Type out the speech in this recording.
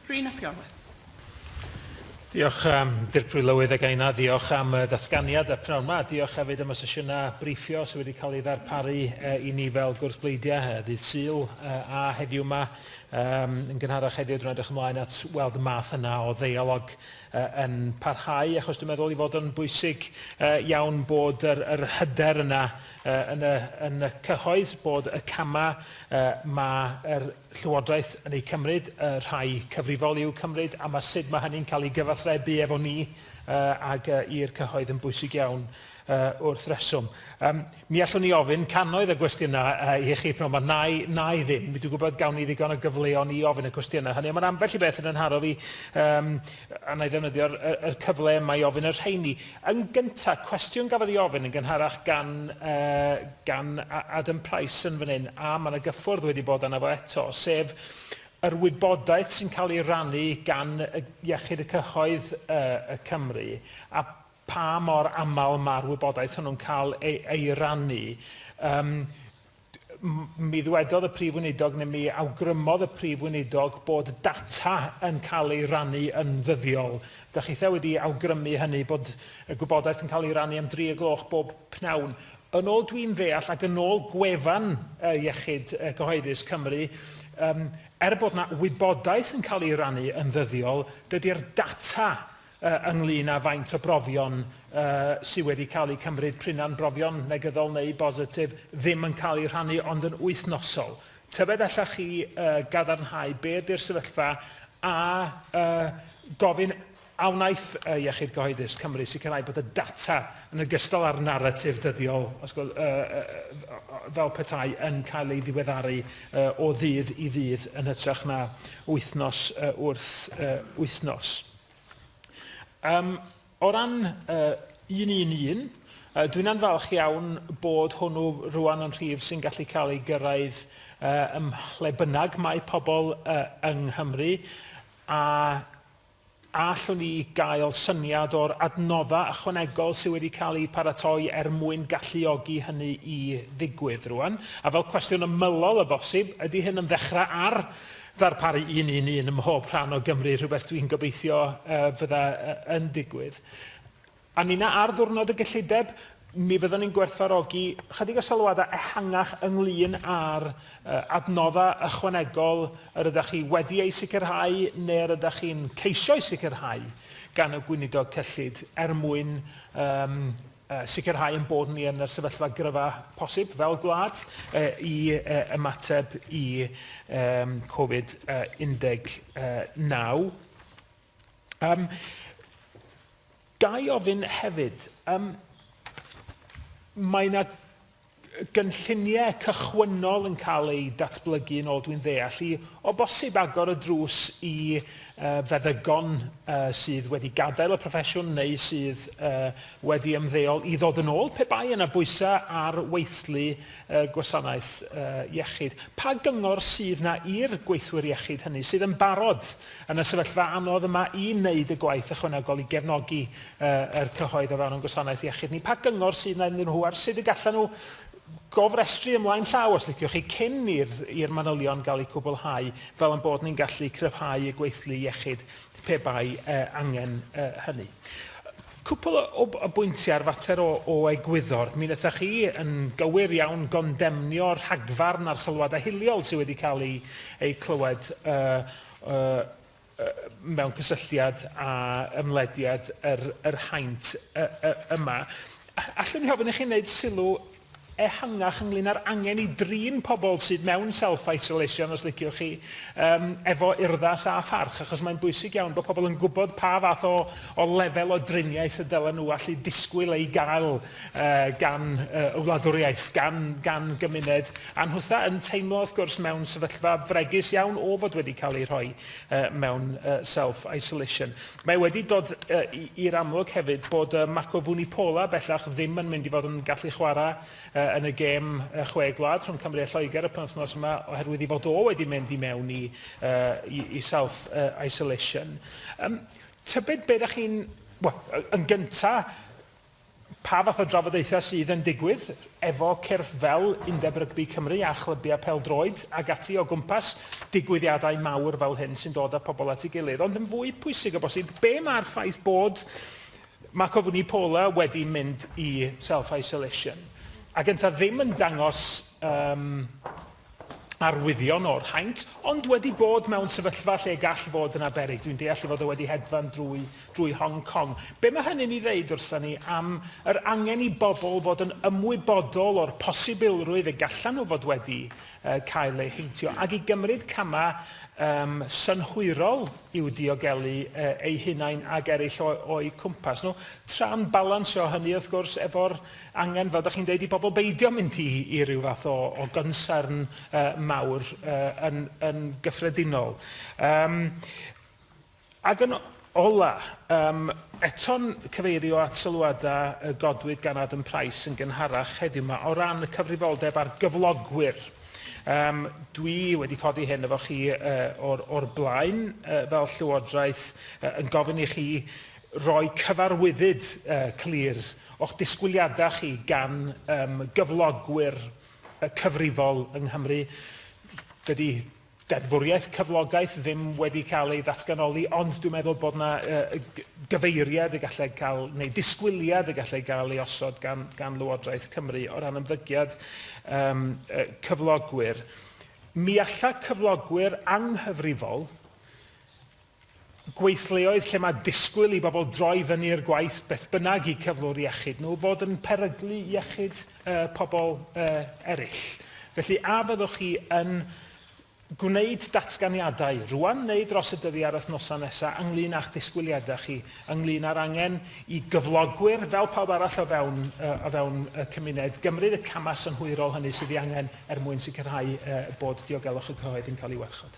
Rhun ap Iorwerth. Diolch, um, Dirprwy Lywydd, a gaina ddiolch am y datganiad a pnawn yma. Diolch hefyd am y sesiynau briffio sydd wedi cael ei ddarparu uh, i ni fel gwrs bleidiau uh, ddydd Sul uh, a heddiw yma. Um, yn gynharach heddiw, dwi'n edrych ymlaen at weld y math yna o ddeialog uh, yn parhau, achos dwi'n meddwl i fod yn bwysig uh, iawn bod yr, yr hyder yna uh, yn, y, yn y cyhoedd, bod y camau uh, mae yr Llywodraeth yn eu cymryd, y rhai cyfrifol i'w cymryd, a ma sut ma hynny'n cael ei gyfathrebu efo ni ag i'r cyhoedd yn bwysig iawn wrth reswm. Mi allwn ni ofyn cannoedd o gwestiynau i chi p'nawn 'ma, nai, nai ddim, dwi'n gwybod gawn ni ddigon o gyfleon i ofyn y cwestiynau hynny, ond mae ambell i beth yn 'y nharo fi, a na i ddefnyddio'r cyfle yma i ofyn y rheini. Yn gyntaf, cwestiwn gafodd ei ofyn yn gynharach gan, gan Adam Price yn fan hyn, a mae yna gyffwrdd wedi bod arno fo eto, sef yr wybodaeth sy'n cael ei rannu gan Iechyd y Cyhoedd y Cymru a pha mor aml mae'r wybodaeth hwnnw'n cael ei rannu. mi ddwedodd y Prif Weinidog neu mi awgrymodd y Prif Weinidog bod data yn cael ei rannu yn ddyddiol. Da chitha wedi awgrymu hynny bod y gwybodaeth yn cael ei rannu am dri y gloch bob pnawn. Yn ôl dwi'n ddeall ac yn ôl gwefan uh, Iechyd uh, Cyhoeddus Cymru, um, er bod yna wybodaeth yn cael ei rannu yn ddyddiol, dydy'r data ynglŷn â faint o brofion sydd wedi cael eu cymryd, p'runau'n brofion negyddol neu bositif, ddim yn cael eu rhannu ond yn wythnosol. Tybed allech chi gadarnhau be ydy'r sefyllfa a gofyn a wnaeth Iechyd Cyhoeddus Cymru sicrhau bod y data yn ogystal â'r naratif dyddiol fel petai yn cael ei ddiweddaru o ddydd i ddydd yn hytrach na wythnos wrth wythnos? Um, o ran uh, un un un, uh, dwi'n anfalch iawn bod hwnnw rwan yn rhif sy'n gallu cael ei gyrraedd uh, ym lle bynnag mae pobl uh, yng Nghymru a allwn ni gael syniad o'r adnoddau ychwanegol sydd wedi cael eu paratoi er mwyn galluogi hynny i ddigwydd rwan. A fel cwestiwn ymylol y bosib, ydy hyn yn ddechrau ar ddarparu un i'n un ym mhob rhan o Gymru, rhywbeth dwi'n gobeithio fydda yn digwydd. A ninna ar ddiwrnod y gyllideb, mi fyddwn ni'n gwerthfawrogi chydig o sylwadau ehangach ynglŷn â'r adnoddau ychwanegol yr ydych chi wedi eu sicrhau neu yr ydych chi'n ceisio'u sicrhau gan y Gweinidog Cyllid er mwyn sicrhau ein bod ni yn y sefyllfa gryfa posib fel gwlad i ymateb i Covid 19. Um, ga i ofyn hefyd, um, mae yna gynlluniau cychwynnol yn cael eu datblygu yn ôl dwi'n ddeall i o bosib agor y drws i uh, feddygon uh, sydd wedi gadael y proffesiwn neu sydd uh, wedi ymddeol i ddod yn ôl pe bai yna bwysau ar weithlu uh, gwasanaeth uh, iechyd. Pa gyngor sydd na i'r gweithwyr iechyd hynny sydd yn barod Yn y sefyllfa anodd y mae i'n wneud y gwaith ychwanegol i gefnogi yr cyhoedd o fewn ein gwasanaeth iechyd ni, pa gyngor sydd 'na iddyn nhw ar sut y gallan nhw gofrestru ymlaen llaw, os liciwch chi, cyn i'r manylion gael eu cwblhau, fel ein bod ni'n gallu cryfhau y gweithlu iechyd pe bai angen hynny? Cwpl o bwyntiau ar fater o egwyddor. Mi wnaethoch chi, yn gywir iawn, gondemnio'r rhagfarn a'r sylwadau hiliol sydd wedi cael eu clywed mewn cysylltiad â ymlediad yr yr haint yma. Allwn i ofyn i chi wneud sylw ehangach ynglŷn â'r angen i drin pobl sydd mewn self-isolation, os liciwch chi, um, efo urddas a pharch, achos mae'n bwysig iawn bod pobl yn gwybod pa fath o, o lefel o driniaeth y dylen nhw allu disgwyl ei gael gan y wladwriaeth, gan, gan gymuned a nhwtha yn teimlo, wrth gwrs, mewn sefyllfa fregus iawn o fod wedi cael ei rhoi uh, mewn uh, self-isolation. Mae wedi dod uh, i'r amlwg hefyd bod uh, Mako Vunipola bellach ddim yn mynd i fod yn gallu chwarae uh, yn y gêm uh, chwe gwlad rhwng Cymru a Lloegr y penwthnos yma oherwydd i fod o wedi mynd i mewn i, uh, i, i self-isolation. Uh, um, tybed beth ydych chi'n... Well, yn gyntaf, Pa fath o drafodaethau sydd yn digwydd efo cyrff fel Undeb Rygbi Cymru a chlybiau pêl-droed ac ati o gwmpas digwyddiadau mawr fel hyn sy'n dod â pobl at ei gilydd, ond yn fwy pwysig o bosib, be mae'r ffaith bod Marco Vunipola wedi mynd i self-isolation ac yntau ddim yn dangos um, arwyddion o'r haint, ond wedi bod mewn sefyllfa lle gall fod yna beryg. Dwi'n deall ei fod o wedi hedfan drwy, drwy Hong Kong. Be mae hynny'n ei ddeud wrthon ni am yr angen i bobl fod yn ymwybodol o'r posibilrwydd y gallan nhw fod wedi uh, cael eu heintio, ac i gymryd camau um, synhwyrol i'w diogelu uh, eu hunain ac eraill o'u cwmpas nhw, tra'n balansio hynny, wrth gwrs, efo'r angen, fel dach chi'n deud, i bobl beidio mynd i i ryw fath o o gonsern yy mawr yy yn yn gyffredinol. Yym ag yn ola, yym eto'n cyfeirio at sylwada y godwyd gan Adam Price yn gynharach heddiw 'ma o ran y cyfrifoldeb ar gyflogwyr. Yym dwi wedi codi hyn efo chi yy o'r o'r blaen yy fel Llywodraeth yy yn gofyn i chi Rhoi cyfarwyddyd clir o'ch disgwyliadau chi gan gyflogwyr cyfrifol yng Nghymru. Dydy deddfwriaeth cyflogaeth ddim wedi cael ei ddatganoli, ond dwi'n meddwl bod yna gyfeiriad y gallai cael, neu ddisgwyliad y gallai gael ei osod gan gan Lywodraeth Cymru o ran ymddygiad cyflogwyr. Mi alla cyflogwyr anghyfrifol gweithleoedd lle mae disgwyl i bobl droi fyny i'r gwaith beth bynnag i cyflwr iechyd nhw fod yn peryglu iechyd pobl eraill. Felly, a fyddwch chi yn gwneud datganiadau rŵan neu dros y dyddiau a'r wythnosau nesaf ynglŷn â'ch disgwyliadau chi ynglŷn â'r angen i gyflogwyr, fel pawb arall o fewn o fewn y cymuned, gymryd y camau synhwyrol hynny sydd ei angen er mwyn sicrhau bod diogelwch y cyhoedd yn cael ei warchod?